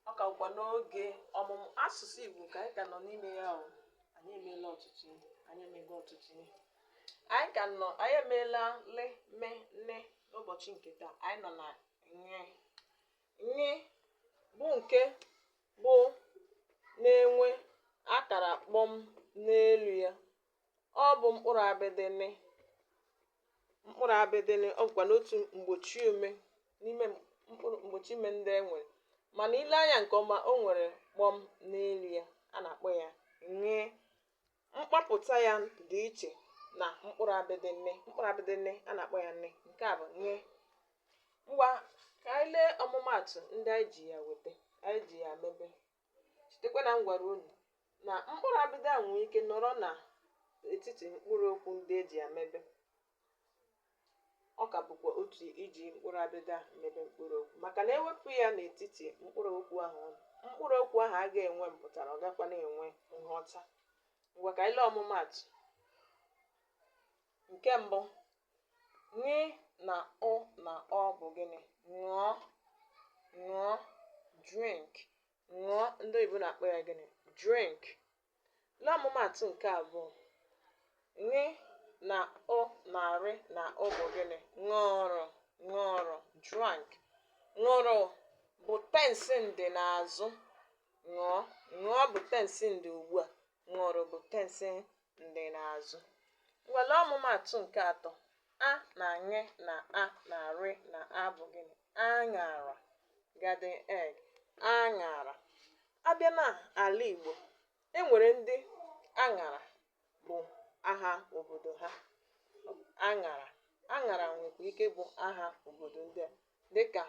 ọ ka bụkwa n'oge ọmụmụ asụsụ Igbo ka anyị ka nọ n'ime ya o anyị emeela ọtụtụ ihe anyị emego ọtụtụ ihe anyị ka nọ anyị emeela lị mị nị n'ụbọchị nke taa anyị nọ na ṅị ṅị bụ nke bụ na-enwe akara kpọm n'elu ya ọ bụ mkpụrụ abịdị nị mkpụrụ abịdị nị ọ bụkwanụ otu mgbochi ume n'ime mkpụrụ mgbochi ume ndị e nwere mana i lee anya nke ọma o nwere kpọm n'elu ya a na-akpọ ya ṅị mkpọpụta ya dị iche na mkpụrụ abịdị nị mkpụrụ abịdị nị a na-akpọ ya nị nke a bụ ṅị ngwa ka anyị lee ọmụmaatụ ndị anyị ji ya weta anyị ji ya mebe Chetakwa na m gwara unu na mkpụrụ abịdị a nwere ike nọrọ na etiti mkpụrụ okwu ndị e ji ya mebe. Ọ ka bụkwa otu iji mkpụrụ abịdị a mebe mkpụrụ okwu maka na e wepụ ya n'etiti mkpụrụ okwu ahụ ọ nọ, mkpụrụ okwu ahụ agaghị enwe mpụtara ọ gaghịkwanụ enwe nghọta. Ngwa ka anyị lee ọmụmaatụ. Nke mbụ, Ṅị na ụ na ọ bụ gịnị? Ṅụọ, ṅụọ, drink. Ṅụọ, ndị oyibo na-akpọ ya gịnị? Drink. Lee ọmụmaatụ nke abụọ. Ṅị na ụ na rị na ụ bụ gịnị? Ṅụrụ, ṅụrụ, drank. Ṅụrụ bụ tensi ndị n'azụ. Ṅụọ, ṅụọ bụ tensi ndị ugbu a. Ṅụrụ bụ tensi ndị n'azụ. Ngwa lee ọmụmaatụ nke atọ a na ṅị na a na rị na a bụ gịnị? Aṅara garden egg aṅara. A bịa na ala Igbo e nwere ndị aṅara bụ aha obodo ha aṅara aṅara nwekwa ike ịbụ aha obodo ndị a dịka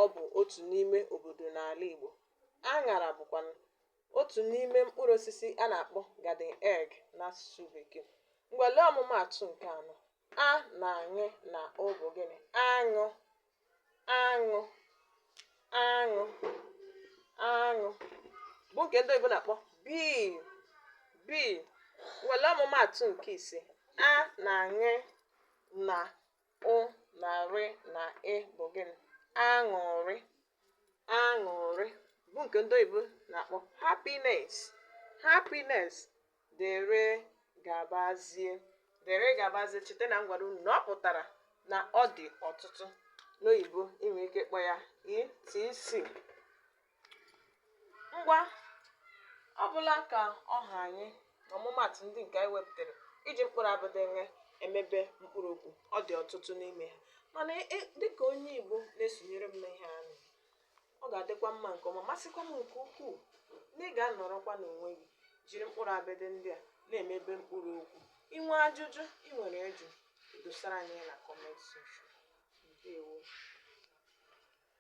ọ bụ otu n'ime obodo n'ala Igbo. Aṅara bụkwanụ otu n'ime mkpụrụ osisi a na-akpọ garden egg n'asụsụ Bekee. Ngwa lee ọmụmaatụ nke anọ. A na ṅị na ụ bụ gịnị? Aṅụ, aṅụ, aṅụ, aṅụ bụ nke ndị oyibo na-akpọ bee, bee. Ngwa lee ọmụmaatụ nke ise. A na ṅị na ụ na rị na ị bụ gịnị aṅụrị aṅụrị bụ nke ndị oyibo na-akpọ happiness happiness dere gabazie dere gabazie cheta na m gwara unu na ọ pụtara na ọ dị ọtụtụ n'oyibo i nwere ike kpọ ya etc ngwa ọ bụla ka ọ ha anyị na ọmụmatụ ndị nke anyị wepụtara iji mkpụrụ abịdị wee emebe mkpụrụ okwu ọ dị ọtụtụ n'ime ha mana e, e, dịka onye igbo na-esonyere m n'ihe a ọ ga-adịkwa mma nke ọma masịkwa m nke ukwuu na ị ga-anọrọkwa n'onwe gị jiri mkpụrụ abịdị ndị a na-emebe mkpụrụ okwu i nwee ajụjụ ị nwere ịjụ i dosara anyị na comment section ndewo